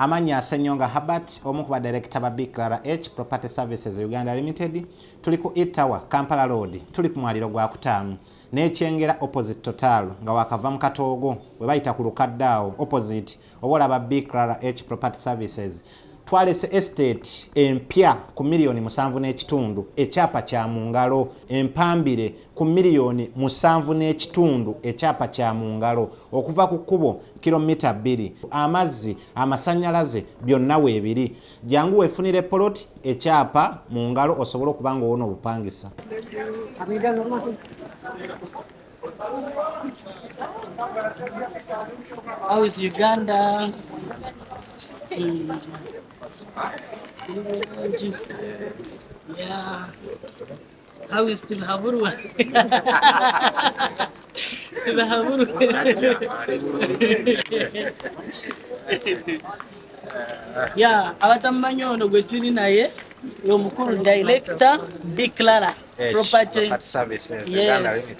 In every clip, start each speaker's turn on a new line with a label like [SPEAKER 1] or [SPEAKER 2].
[SPEAKER 1] Amannya, Ssenyonga Herbert, omu ku badirector ba BKRH Property Services Uganda Limited, Tuli ku E-Tower, Kampala Road, tuli ku mwaliro gwa Kutaamu n'e Kyengera opposite Total nga waakava mu katoogo we bayita ku lukadde awo opposite oba olaba BKRH Property Services. Twalese estate empya ku million musanvu n'ekitundu, ekyapa kya mu ngalo, empambire. ku miliyoni musanvu n'ekitundu ekyapa kya mu ngalo okuva ku kkubo kilomita bbiri amazzi amasannyalaze byonna weebiri jangu weefunire poloti ekyapa mu ngalo osobole okuba nga owona obupangisa
[SPEAKER 2] How is Uganda? Mm. Yeah. How is Tibahaburwa? Tibahaburwa. ya abatamumanyi ono gwe tuli naye omukulu director b clara property
[SPEAKER 1] yes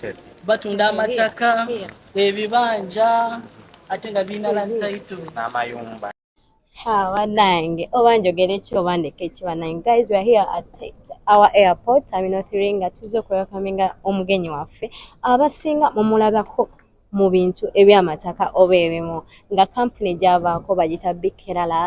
[SPEAKER 1] batunda amataka
[SPEAKER 2] ebibanja ate nga birina lantitles
[SPEAKER 1] abanange
[SPEAKER 3] oba njogere ki oba ndeke ki banange guys weare here at our airport terminal three nga tuzze okwewakaminga omugenyi waffe abasinga mumulabako mu bintu ebyamataka oba ebimu nga kampuni gyavaako bagita bikerala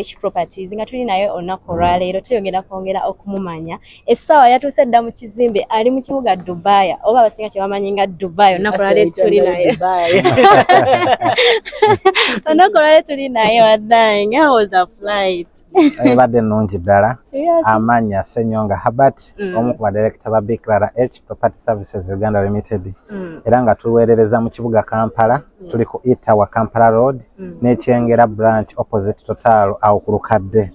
[SPEAKER 3] h properties nga tuli naye olunaku olwaleero tuyongera kwongera okumumanya essaawa yatuuse dda mu kizimbe ali mu kibuga dubaaya oba abasinga kyebamanyi nga dubaaya olunaku lwale tuli naye olunaku lwale tuli naye wadhange how was a flight ebadde nnungi
[SPEAKER 1] ddala amaanya senyonga habert mm. omu ku badirekita ba bclara h property services uganda limited mm. era nga tuweerereza mu kibuga kampala mm. tuli ku etawa kampala road n'ekyengera branch opposite total awo ku lukadde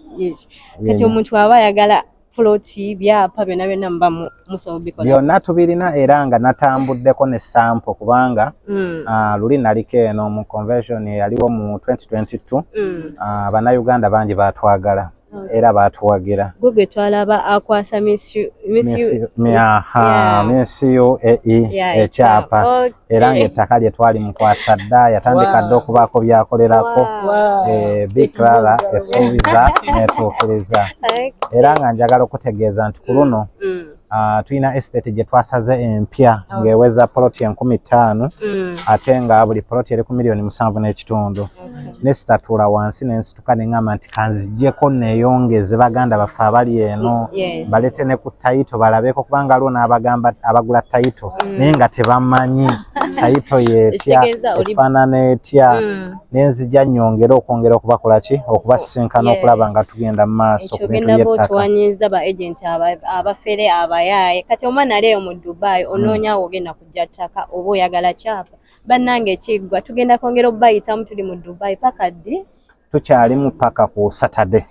[SPEAKER 1] kati
[SPEAKER 3] omuntu aba ayagala fuloti byapa byonna byonna muba musobola bikola byonna tubirina era
[SPEAKER 1] nga natambuddeko ne sampo kubanga mm. uh, luli naliko eno mu convention eyaliwo mu 2022 mm. uh, bannayuganda bangi batwagala era batuwagira gwe twalaba
[SPEAKER 3] akwasa minsiyo
[SPEAKER 1] ekyapa era eh. ng'ettaka lye twali mukwasa dda yatandika dda okubaako byakolerako eh, biclara esuubiza netuukiriza era nga njagala okutegeeza nti ku luno mm, mm. Ah, tulina estate gye twasaze empya oh. ng'eweza poloti enkumi ttaano mm. ate nga buli poloti eri ku miliyoni musanvu n'ekitundu nesitatuula wansi nensi okutuka neŋamba nti kanzijeko neyongeze baganda baffe abali eno balete ne ku tayito balabeko kubanga aliwo n'abagamba abagula tayito mm. naye nga tebamanyi tayito yetya efaanana etya mm. nenzija nyongere okwongera okubakola ki okubasisinkana oh, okulaba nga tugenda mu maaso ku bintu byettakawanyiza ba agenti
[SPEAKER 3] abafere abayaaye kati omwana aleeyo mu dubai onoonya mm. wogenda kujja ttaka oba oyagala kyapa bannange ekiggwa tugenda kwongera obubayitamu tuli mu dubai paka ddi tukyali mu
[SPEAKER 1] paka ku satade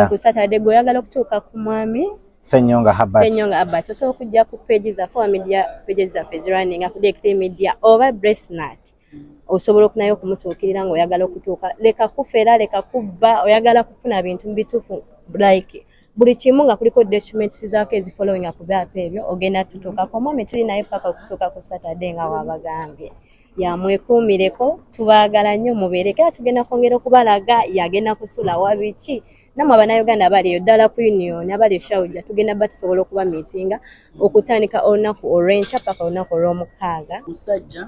[SPEAKER 1] ku
[SPEAKER 3] satade gwe oyagala okutuuka ku mwami senyonga habat
[SPEAKER 1] senyonga habat osobola okujja ku page zaffe owa media page zaffe ezirunning ku dkt media oba bresnat osobola okunayo okumutuukirira nga oyagala okutuuka leka kufera leka kubba oyagala kufuna bintu mubituufu like buli kimu nga kuliko documents zaako ezi following up byapa ebyo ogenda tutuukako omwami tuli naye paka okutuuka ku saturday nga wabagambye yamwekuumireko tubaagala nnyo mubeere kera tugenda kwongera okubalaga yagenda kusula wabiki namwe abanauganda abali eyo ddala ku union abali eshawuja tugenda ba tusobola okuba miitinga okutandika olunaku olwenkya paka olunaku olwomukaaga musajja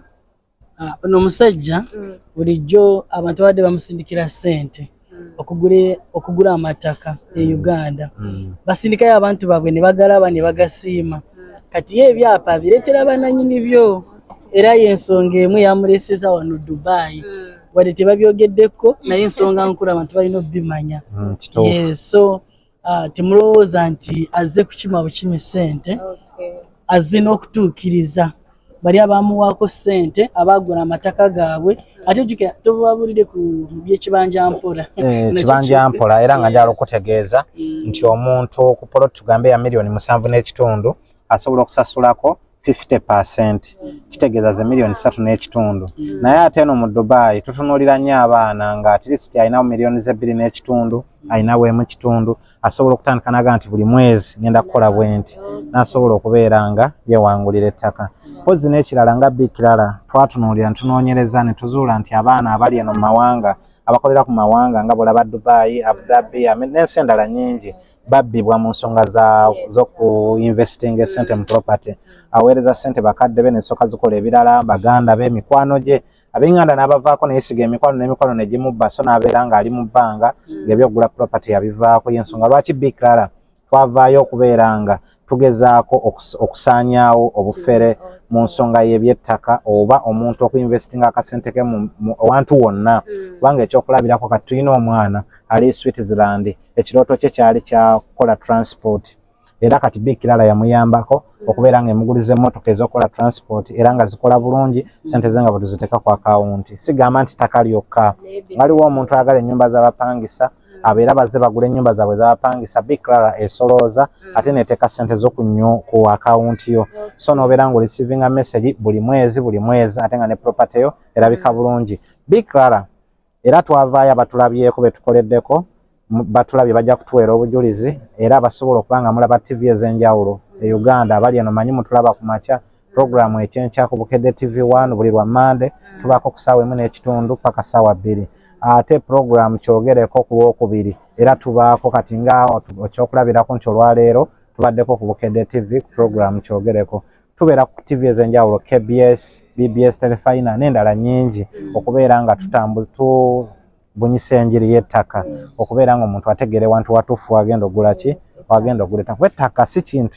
[SPEAKER 2] Ah, ono omusajja mm. bulijjo abantu abadde bamusindikira ssente mm. okugula amattaka e mm. uganda basindikayo abantu baabwe ne bagalaba ne bagasiima kati ye ebyapa bireetera bananyini byo era yensonga emu yamuleeseza wano dubai wadde tebabyogeddeko naye ensonga nkulu abantu balina obibimanya so Ah, temulowooza nti azze kukima bukimi ssente azze n'okutuukiriza bali abamuwaako ssente abaagula amataka gaabwe ate jukira tobabulire ku byekibanja mpola eh, kibanja mpola
[SPEAKER 1] era nga njala okutegeeza mm. nti omuntu ku poloti tugambe ya miliyoni musanvu n'ekitundu asobola okusasulako 50 percent kitegeeza ze miliyoni satu n'ekitundu mm. naye ate eno mu dubai tutunuulira nnyo abaana nga atleast alinawo miliyoni zebbiri n'ekitundu alinawo emu kitundu asobola okutandika naga nti buli mwezi ngenda kukola bwenti nasobola okubeera nga yewangulira ettaka mpozi n'ekirala nga bikirala twatunuulira ntunoonyereza ne tuzuula nti abaana abali eno mu mawanga abakolera ku mawanga nga bwolaba dubai abu dhabi n'ensi endala nyingi babbibwa mu nsonga zokuinvestinga esente mu property aweereza sente bakadde be nesoka zikola ebirala baganda be mikwano gye abenganda n'abavaako neyesiga emikwano n'emikwano negimubba so n'abeera ng'ali mu bbanga mm. ng'ebyokugula property yabivaako yensonga lwaki big clara twavaayo okubeera nga tugezaako okusaanyaawo obufere mu nsonga y'ebyettaka oba omuntu okuinvestinga akasente ke wantu wonna mm. kubanga ekyokulabirako kati tulina omwana ali switzerland ekirooto kye kyali kyakukola transport era kati bi kirala yamuyambako mm. okubeera nga emuguliza emmotoka ez'okukola transport era nga zikola bulungi mm. sente ze nga bwetuziteeka ku akawunti sigamba nti ttaka lyokka waliwo omuntu ayagala ennyumba z'abapangisa mm. abeera baze bagula enyumba zaabwe zabapangisa biclara esolooza mm. ate neteka sente zo ku akawunti yo so nobeera nga olisivinga message buli mwezi buli mwezi ate nga ne property yo erabika mm. bulungi biclara era twavaayo abatulabyeko betukoleddeko batulabye bajja kutuweera obujulizi era basobola okuba nga mulaba ttivi ez'enjawulo e uganda abali eno manyi mutulaba ku makya Programu ekyenkya ku Bukedde TV One buli lwa Mmande mm. tubaako ku ssaawa emu n'ekitundu paka ssaawa bbiri. Ate programu kyogereko ku lwokubiri era tubaako kati nga ekyokulabirako nti olwaleero tubaddeko ku Bukedde TV ku programu kyogereko. Tubeera ku TV ez'enjawulo KBS, BBS Telefina n'endala nnyingi mm. okubeera nga tutambu tu bunyisa enjiri y'ettaka mm. okubeera nga omuntu ategeere wantu watuufu wagenda ogula ki wagenda ogula ettaka kuba ettaka si kintu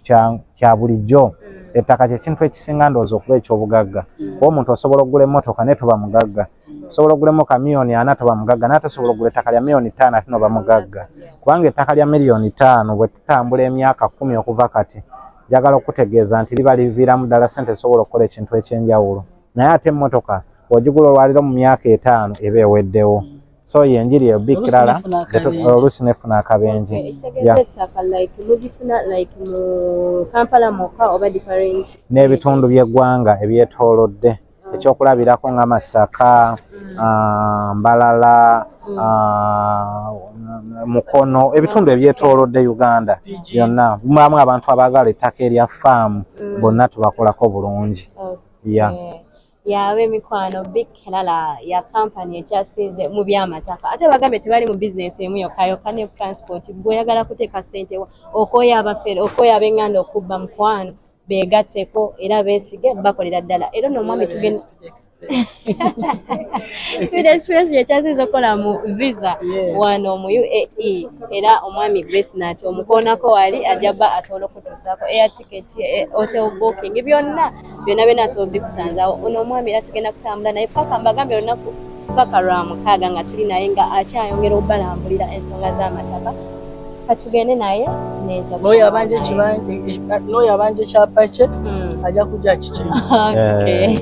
[SPEAKER 1] kya bulijjo mm. ettaka kyekintu ekisinga ndowooza okuba ekyobugagga mm. kuba omuntu osobola okugula emmotoka naye toba mugagga osobola okugula emmotoka miliyoni ana toba mugagga naye tosobola okugula ettaka lya miliyoni ttaano ate noba mugagga kubanga ettaka lya miliyoni ttaano bwe tutambula emyaka kumi okuva kati njagala okutegeeza nti liba liviiramu ddala sente esobola okukola ekintu eky'enjawulo naye ate emmotoka wagigula olwaliro mu myaka etaano eba eweddewo so ye enjiri eyo bikkirala oluusi nefuna akabenje n'ebitundu by'eggwanga ebyetoolodde mm. ekyokulabirako nga masaka mm. ah, mbalala mm. ah, mukono ebitundu ebyetoolodde uganda byonna mulamu abantu abaagala ettaka erya faamu bonna tubakolako bulungi ya
[SPEAKER 3] yaba emikwano big kelala ya kampani ekyasinze mu byamataka ate bagambye tebali mu bizinensi emu yokka yokka ne transport gwe oyagala kuteeka ssente wa okooya abafere okooya abenganda okubba mukwano beegatteko era beesige bakolera ddala era no omwami tugenda speed express yekyasinze okukola mu visa wano mu uae era omwami grace nati omukoonako wali ajja bba asobola okutuusaako eya tiketi eh, hotel booking byonna byonna byonna asobola bikusanzawo ono omwami era tugenda kutambula naye paka mbagambye olunaku paka lwa mukaaga nga tuli naye nga akyayongera okubalambulira ensonga z'amataka katugende naye
[SPEAKER 2] n'oyo abanja ekyapa kye hmm. ajja kujja kiki eh.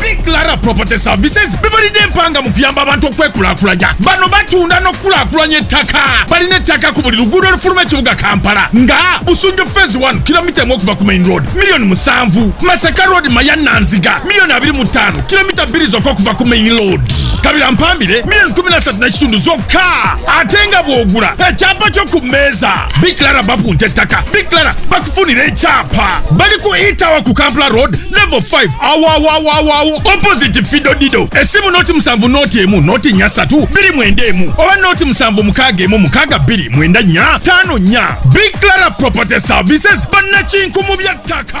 [SPEAKER 4] Big Clara Property Services bebalidde empanga mu kuyamba abantu okwekulakulanya bano batunda n'okukulakulanya ettaka balina ettaka ku buli luguudo olufuluma ekibuga Kampala nga Busunju Phase 1 kilomita emu okuva ku Main Road miliyoni musanvu Masaka Road Mayanna Nziga miliyoni abiri mu ttaano kilomita bbiri zokka okuva ku Main Road kabira mpambire miliyoni kumi na ssatu n'ekitundu zokka ate nga bw'ogula ekyapa kyo ku mmeeza Big Clara bapunta ettaka Big Clara bakufunira ekyapa bali ku Itawa ku Kampala Road level 5 awawawawawo opposite fido dido esimu noti musanvu noti emu noti nya satu biri mwenda emu oba noti musanvu mukaga emu mukaga biri mwenda nya tano nya big clara property services banakinku mu byattaka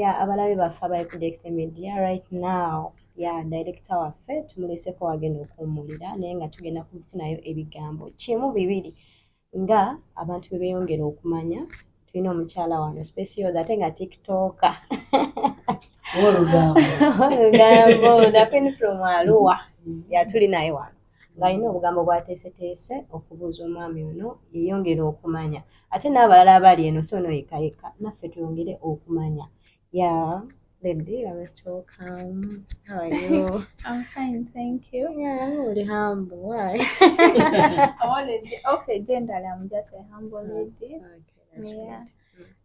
[SPEAKER 3] ya abalabe baffe abali ku Dekite Media right now ya direkita waffe tumuleseko wagenda okuwummulira naye nga tugenda kufunayo ebigambo kimu bibiri nga abantu bwe beeyongera okumanya tulina omukyala wano specioza ate nga tiktoka
[SPEAKER 2] olugambo
[SPEAKER 3] nakwini from aluwa yatuli naye wano ng'alina obugambo bwateeseteese okubuuza omwami ono yeyongere okumanya ate n'abalala abali eno si ono yekka yekka naffe tweyongere okumanya ya Baby, I was so calm. How are you? I'm fine,
[SPEAKER 5] thank you. Yeah, I'm really humble.
[SPEAKER 3] Why? I'm already
[SPEAKER 5] okay. Generally, I'm just a humble lady. Okay, that's yeah.
[SPEAKER 3] Right.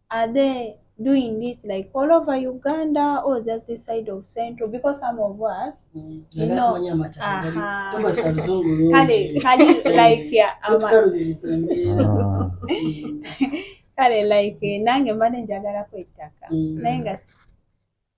[SPEAKER 5] Are they doing this like all over Uganda or just this side of Central? Because some of us, mm. you know, uh-huh. Kale, Kale, like, yeah, I'm Kale, like, nange mbade njagala kwettaka. Mm. Naye nga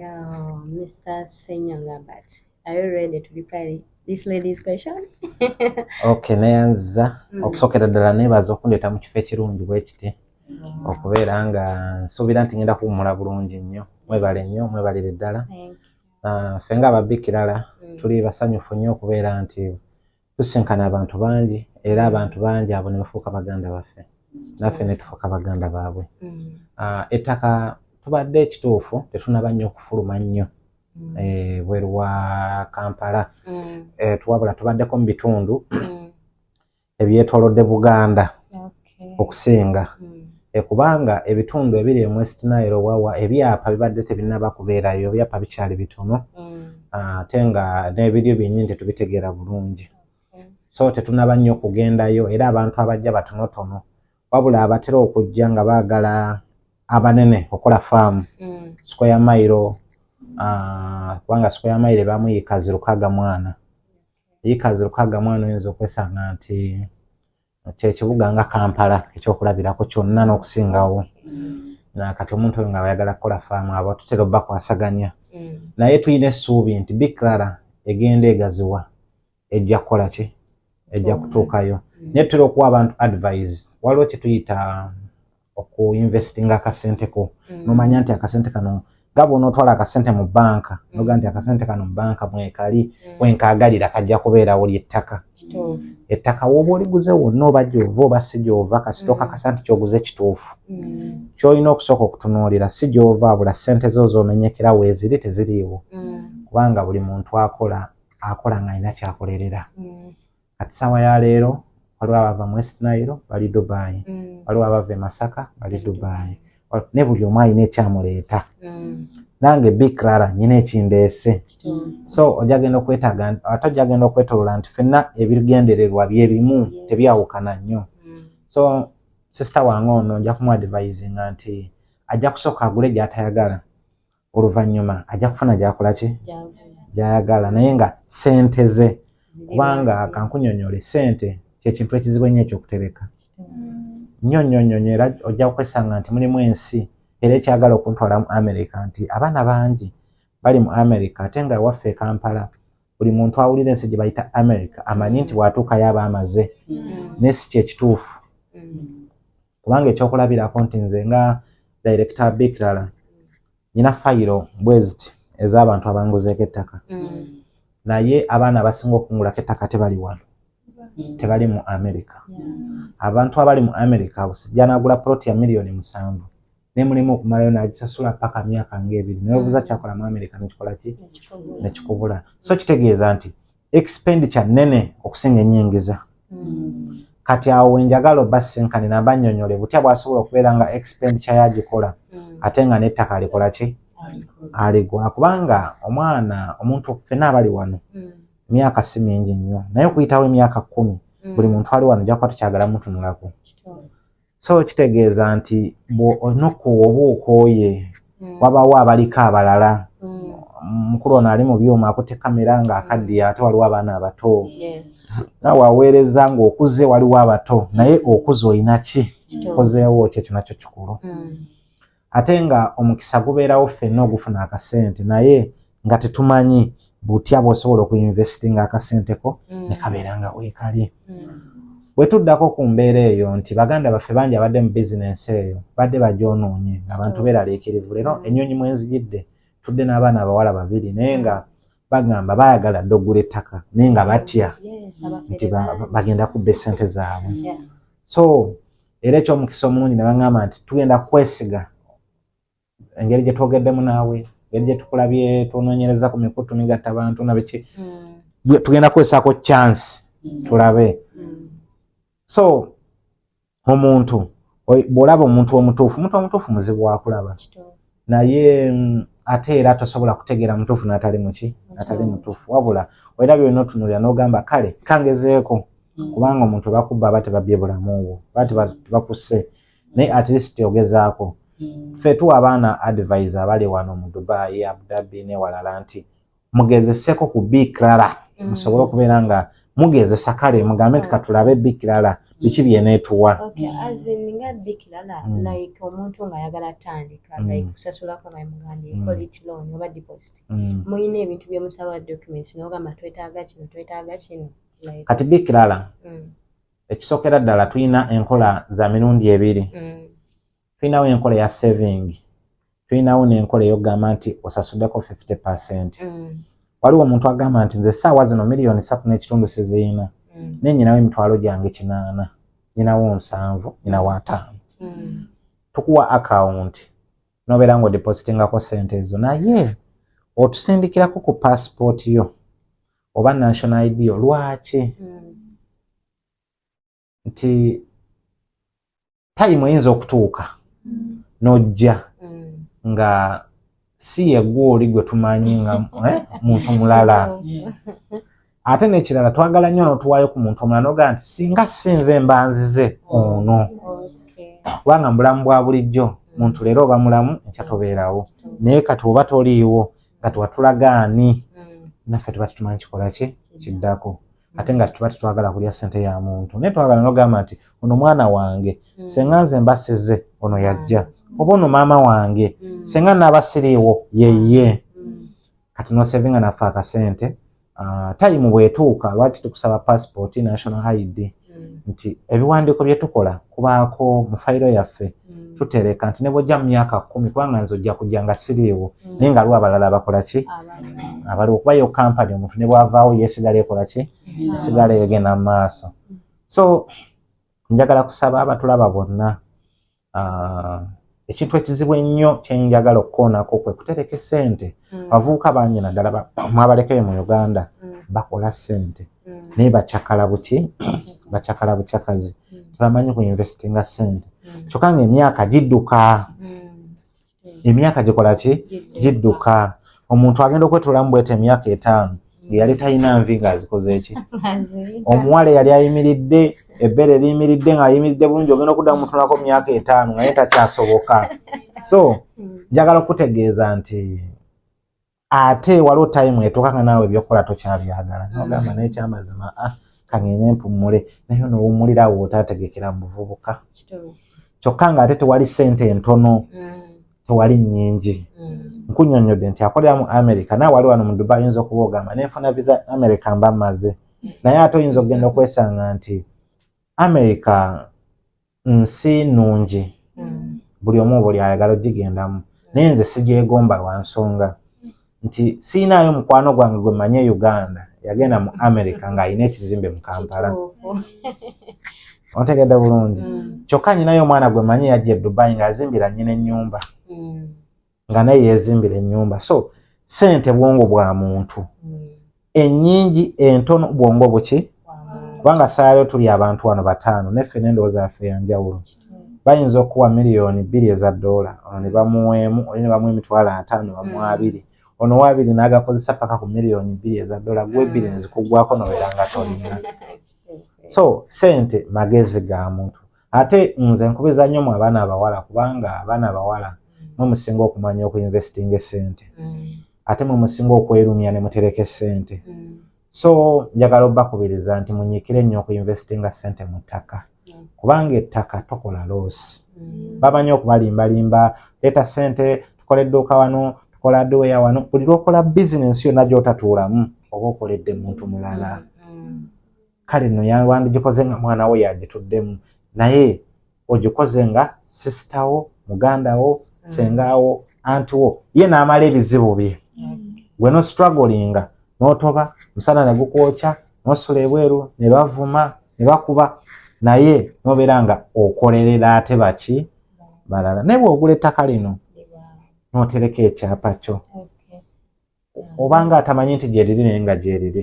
[SPEAKER 5] Yo, Mr.
[SPEAKER 3] Senyonga, but are you ready to reply this lady's question? okay,
[SPEAKER 1] neyanziza mm. okusookera ddala neebaza okundeeta mu kifo ekirungi bwe kiti mm. okubeera nga nsuubira nti ngenda kuwumula bulungi nnyo mwebale nnyo mwebalire ddala ah, ffe nga ababbikirala mm. tuli basanyufu nnyo okubeera nti tusinkana abantu bangi era abantu bangi abo ne bafuuka baganda baffe naffe ne tufuuka baganda baabwe mm. ah, ettaka tubadde ekituufu tetunaba nnyo okufuluma nnyo mm. eh, bweru wa kampala mm. eh, tuwabula tubaddeko mu bitundu ebyetolodde buganda okusinga e kubanga ebitundu ebiri e West Nile wawa ebyapa bibadde tebinaba kubeerayo ebyapa bikyali bitono ate nga n'ebiryo byennyini tetubitegeera bulungi so tetunaba nnyo okugendayo era abantu abajja batonotono wabula abatera okujja nga baagala abanene okola faamu mm. square mailo ah, kubanga square mailo ebamu yikazi lukaga mwana yikazi lukaga mwana oyinza okwesanga nti kyekibuga nga kampala ekyokulabirako kyonna n'okusingawo mm. kati omuntu oyo nga bayagala kukola faamu abo tutera obakwasaganya mm. naye tulina essuubi nti biklara egenda egaziwa ejja kukola ki ejja kutuukayo mm. naye tutera okuwa abantu advise waliwo kyetuyita okuinvestinga akasente ko mm. nomanya nti akasente kano nga bwonaotwala akasente mu banka mm. noga nti akasente kano mu banka mwekali mm. wenkagalira kajja kubeerawo lyettaka ettaka woba oliguze wonna oba gyova oba si gyova kasita okakasa nti kyoguze kituufu kyolina okusooka okutunuulira si gyova abula sente zo zomenyekera weeziri teziriiwo kubanga buli muntu akola akola ng'alina kyakolerera kati saawa ya leero waliwo abava mu west nile bali dubai mm. waliwo abava emasaka bali dubai ne buli omu alina ekyamuleeta mm. nange bikrara nyina ekindeese so ojagenda okwetaga ate ojagenda okwetolola nti fenna ebigendererwa byebimu tebyawukana nnyo mm. so sisita wange ono nja kumuadivisinga nti ajja kusooka agule gyatayagala oluvannyuma ajja kufuna gyakola ki gyayagala naye nga sente ze kubanga kankunyonyole sente kyekintu ekizibu ennyo ekyokutereka nnyo nnyo nnyo nyo era ojja kwesanga nti mulimu ensi era ekyagala okuntwala mu amerika nti abaana bangi bali mu amerika ate nga waffe ekampala buli muntu awulira ensi gye bayita amerika amanyi nti bwatuukayo aba amaze mm. naye si kyekituufu mm. kubanga ekyokulabirako nti nze nga director bikirala nyina fayiro bweziti ez'abantu abanguzeeko ettaka mm. naye abaana abasinga okungulako ettaka tebali wano mm. tebali mu america abantu abali mu america janagula ploti ya miliyoni musanvu nemulema okumalayo nagisasula paka myaka ngaebiri newebuza mm. kyakola mu america nekikola ki nekikubula so kitegeeza nti expenditure nene okusinga enyingiza mm. kati awo wenjagala oba senkani namba nyonyole butya bwasobola okubeera nga expenditure yagikola mm. ate nga nettaka alikola ki aligula kubanga omwana omuntu fena abali wano emyaka si mingi nnyo naye okuyitawo emyaka kumi buli muntu ali wano jakuba tukyagala mutunulako so kitegeeza nti nokuwa oba okooye mm. wabawo abaliko abalala mm. mukulu ono ali mu byuma akute kamera nga akaddiya ate waliwo abaana abato nawe aweereza ngaokuze waliwo abato naye okuze olina ki kozeewo kyekyo nakyo kikulu mm. ate nga omukisa gubeerawo ffenna ogufuna akasente naye nga tetumanyi butya bwosobola okuinvestinga akasente ko mm. nekabeera nga wekali mm. wetuddako ku mbeera eyo nti baganda baffe bangi abadde mu bizinensi eyo badde bagyonoonye ngaabantu mm. beraliikirivu leero ennyonyi mwenzijidde tudde n'abaana abawala babiri naye nga bagamba baagala dde okugula ettaka naye nga batya nti bagenda kubba esente zaabwe so era ekyomukisa omulungi ne baŋŋamba nti tugenda kwesiga engeri gye twogeddemu naawe engeri gye tukulabye tunoonyereza ku mikutu migatta bantu nabiki hmm. tugenda kukozesako chance hmm. tulabe hmm. so omuntu bw'olaba omuntu omutuufu omuntu omutuufu muzibu wakulaba naye mm, ate era tosobola kutegeera mutuufu natali muki natali mutuufu wabula era byona otunulira nogamba kale kangezeeko mm. kubanga omuntu bakubba aba tebabye bulamu bwo aba tebakusse naye at least ogezaako mm. ffe tuwa abaana advise abali wano mu dubai abudabi newalala nti mugezeseko ku bikirala mm. musobole okubeera nga mugezesa kale mugambe nti katulabe bikirala biki byenetuwa
[SPEAKER 3] mulina ebintu byemusaba documents nogamba twetaaga kino twetaaga kino kati
[SPEAKER 1] bikirala mm. ekisookera ddala tulina enkola za mirundi ebiri mm. tulinawo enkola ya saving tulinawo n'enkola eyokugamba nti osasuddeko 50 percent mm. waliwo omuntu agamba nti nze saawa zino miliyoni satu n'ekitundu siziina mm. naye nyinawo emitwalo gyange kinaana nyinawo nsanvu nyinawo ataano mm. tukuwa akawunti nobeera nga odipositingako sente ezo naye otusindikirako ku paasipooti yo oba national id yo lwaki mm. nti tayimu eyinza okutuuka mm. n'ojja mm. nga si yegwe oli gwe tumanyi nga eh, muntu mulala ate n'ekirala twagala nnyo n'otuwaayo ku muntu omulala noga nti singa sinze mbanzize ono kubanga mubulamu bwa bulijjo muntu leero oba mulamu enkya tobeerawo naye kati oba toliiwo nga tewatulagaani mm. naffe tuba tutumanyi kikola ki kiddako ate nga tuba tetwagala kulya sente ya muntu naye twagala nogamba nti ono mwana wange mm. senga nze mbasize ono yajja mm. oba ono maama wange mm. senga nabasiriiwo yeye kati nosevinga nafe akasente ah, tayimu bwetuuka lwaki tukusaba passport national id nti ebiwandiiko byetukola kubaako mu fayiro yaffe mm. tutereka nti nebwojja mu myaka kumi kubanga nze ojja kujja nga siriiwo mm. naye nga lwa abalala abakola ki abaliwo kuba yo kampani omuntu ne bwavaawo yesigala ekola ki mm. esigala egenda mu maaso so njagala kusaba abatulaba bonna ah, ekintu ekizibu ennyo kyenjagala okukoonako kwe kutereka esente abavubuka banyina ddala mwabalekayo mu uganda bakola sente mm. naye bacakala buki bacakala bucakazi mm. tebamanyi ku investinga sente mm. kyokka nga emyaka gidduka emyaka gikola ki gidduka omuntu agenda okwetulamu bwete emyaka etaano ngeyali talina nvi nga azikoze eki omuwala eyali ayimiridde ebbeere liyimiridde nga ayimiridde bulungi ogenda okudda mutunako myaka etaano nga naye takyasoboka so njagala okutegeeza nti ate waliwo time etuuka nga naawe ebyokukola tokyabyagala nogamba naye kyamazima a ah, kangende mpummule naye nowumulira awo otategekera mu buvubuka kyokka nga ate tewali sente entono mm. tewali nyingi mm. nkunyonyodde nti akolera mu america naye wali wano mu dubai oyinza okuba ogamba nenfuna visa america mba maze mm. naye ate oyinza okugenda okwesanga nti america nsi nnungi mm. buli omu obuli ayagala ogigendamu naye nze sigyegomba lwa nsonga nti siinaayo mukwano gwange gwe mmanyi e uganda yagenda mu america ng'alina ekizimbe mu kampala ontegedde bulungi mm. kyokka nyinayo omwana gwe manyi yajja e dubai ng'azimbira nyina ennyumba mm. nga naye yezimbira enyumba so sente bwongo bwa muntu mm. enyingi entono bwongo buki kubanga saalayo tuli abantu wano bataano neffe nendowooza yaffe yanjawulo mm. bayinza okuwa miliyoni bbiri eza doola ono ne bamuweemu oli ne bamuwa emitwalo ataano bamuwa mm. abiri ono wabiri n'agakozesa paka ku miliyoni bbiri eza doola gwe ebbiri nezikuggwako nobeera nga tolina so sente magezi ga muntu ate nze nkubiza nnyo mu abaana abawala kubanga abaana abawala mwe musinga okumanya okuinvestinga esente mm. ate mwe musinga okwerumya ne mutereka esente mm. so njagala obakubiriza nti munyikire nnyo okuinvestinga sente mu ttaka mm. kubanga ettaka tokola loosi mm. bamanyi okubalimbalimba leeta sente tukola edduuka wano tukola aduweya wano buli lwokola bizinensi yonna gyotatuulamu oba okoledde muntu mulala mm. kale no yawandijikoze nga mwana wo yagituddemu naye ogikoze nga sisita wo muganda wo mm. sengawo anti wo ye naamala ebizibu bye gwe no strugglinga notoba musana negukwokya nosula ebweru nebavuma nebakuba naye nobeera nga okolerera ate baki balala naye bwogula ettaka lino notereka ekyapa kyo oba nga atamanyi nti gyeriri naye nga gyeriri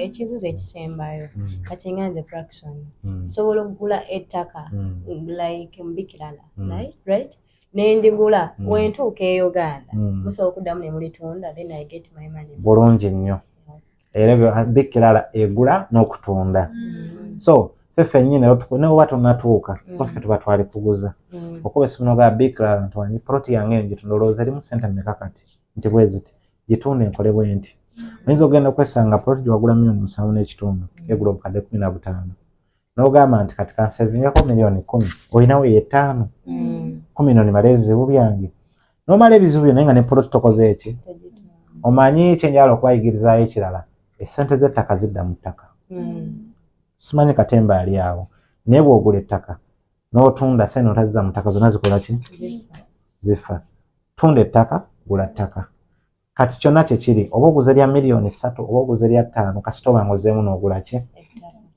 [SPEAKER 1] ekibuzo
[SPEAKER 3] ekisembayo hmm. kati nga nze fraction hmm. nsobola okugula ettaka hmm. like mubikirala right nendigula wentuuka e uganda musobola okuddamu nemulitunda then i get my money bulungi nnyo
[SPEAKER 1] era bikirala egula n'okutunda so fefe nyine ne oba tonatuuka kofe tuba twali kuguza okuba esimu nogaa bikirala nti wanyi proti yange njitundoolooza erimu sente meka kati nti bweziti gitunda enkole bwenti oyinza okugenda okwesanga poloti gyewagula milioni musanvu n'ekitundu egula obukadde kumi na butaano nogamba nti kati kansevingako milioni kumi olinawo yetaano mm. kumi no nimala ebizibu byange nomala ebizibu byo naye nga ne poloti tokoze eki omanyi kyenjala okubayigirizayo ekirala esente z'ettaka zidda mu ttaka mm. simanyi katemba ali awo naye bwogula ettaka n'otunda sente notazza mutaka zona zikola ki zifa tunda ettaka gula ttaka kati kyonna kyekiri oba oguza erya miliyoni ssatu oba oguza erya ttaano kasita oba nga ozeemu n'ogula ki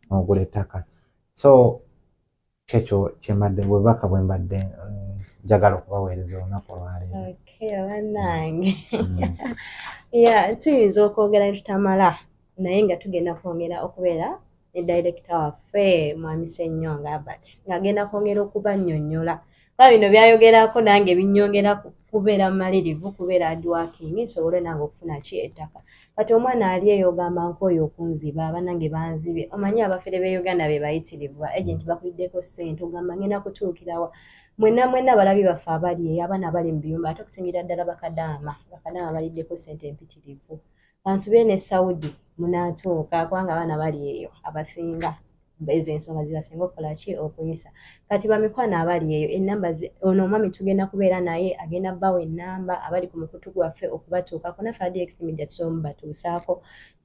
[SPEAKER 1] n'ogula ettaka so kyekyo kyembadde bwebubaka bwe mbadde eh, njagala okubaweereza olunaku olwaleero banange
[SPEAKER 3] mm. ya tuyinza okwogera netutamala naye nga tugenda kwongera okubeera ne director waffe mwami senyonga albert ng'agenda kwongera okubanyonyola kuba bino byayogerako nange binyongera kubeera mumalirivu kubeera adwaking nsobole nange okufuna ki ettaka kati omwana ali eyo ogamba nkooyo okunziba abanange banzibye omanyi abafere be uganda be bayitirivu agenti bakuliddeko ssente ogamba ngenda kutuukirawa mwena mwena balabi baffe abali eyo abaana abali mu biyumba ate okusingira ddala bakadaama bakadaama baliddeko ssente empitirivu kansubire ne saudi munatuuka kubanga abaana bali eyo abasinga ezo ensonga zibasinga okukola ki okuyisa kati bamikwano abali eyo enamba ono omwami tugenda kubeera naye agenda bawa enamba abali ku mukutu gwaffe okubatuukako naffe adxmedia tusobola mubatuusaako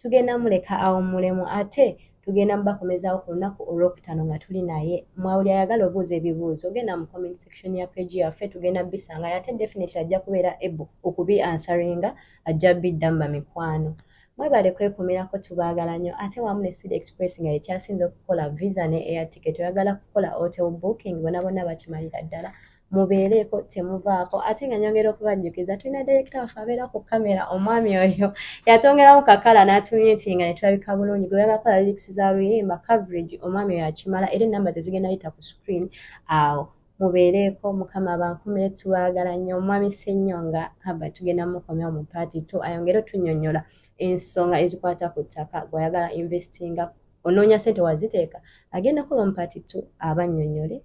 [SPEAKER 3] tugenda muleka awummulemu ate tugenda mubakomezawo ku lunaku olwokutaano nga tuli naye mwawuli ayagala obuuza ebibuuzo ogenda mu comment section ya page yaffe tugenda bisangayo ate definitely ajja kubeera able okubi ansaringa ajja biddamma mikwano mwebale kwekumirako tubaagala nnyo ate wamu ne speed express nga yekyasinze okukola visa ne air ticket oyagala kukola hotel booking bona bona bakimalira ddala mubeereeko temuvaako ate nga nyongera okubajjukiza tulina direkita waffe abeera ku kamera omwami oyo yatongeramu kakala n'atumitinga ne tulabika bulungi gwe yagakola lirikisi za luyimba coverage omwami oyo akimala era enamba ze zigenda yita ku screen awo mubeereeko mukama bankume tubagala nnyo omwami senyonga haba tugenda mukomyawo mu paati to ayongere otunyonyola ensonga ezikwata ku ttaka gwayagala investinga onoonya sente waziteeka agenda kuba mu paati to abanyonyole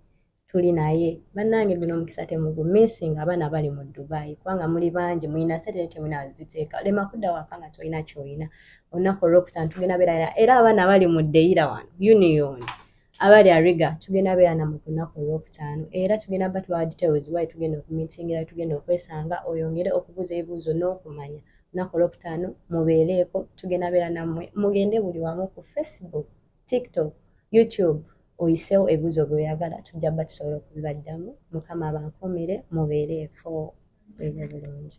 [SPEAKER 3] tuli naye bannange guno omukisa temugumisinga abaana bali mu dubai kubanga muli bangi mulina sente naye temulina waziteeka lema kudda waka nga tolina kyolina olunaku olwokutano tugenda beera era abaana bali mu deyira wano unioni abali ariga tugenda beera namwe ku lunaku olwokutaano era tugenda ba tubawa details wayi tugenda okumitingira tugenda okwesanga oyongere okubuuza ebibuuzo n'okumanya lunaku olwokutaano mubeereeko tugenda beera nammwe mugende buli wamu ku facebook tiktok youtube oyiseewo ebibuuzo byoyagala tujja ba tusobola okubibaddamu mukama abankuumire mubeereeko ebe bulungi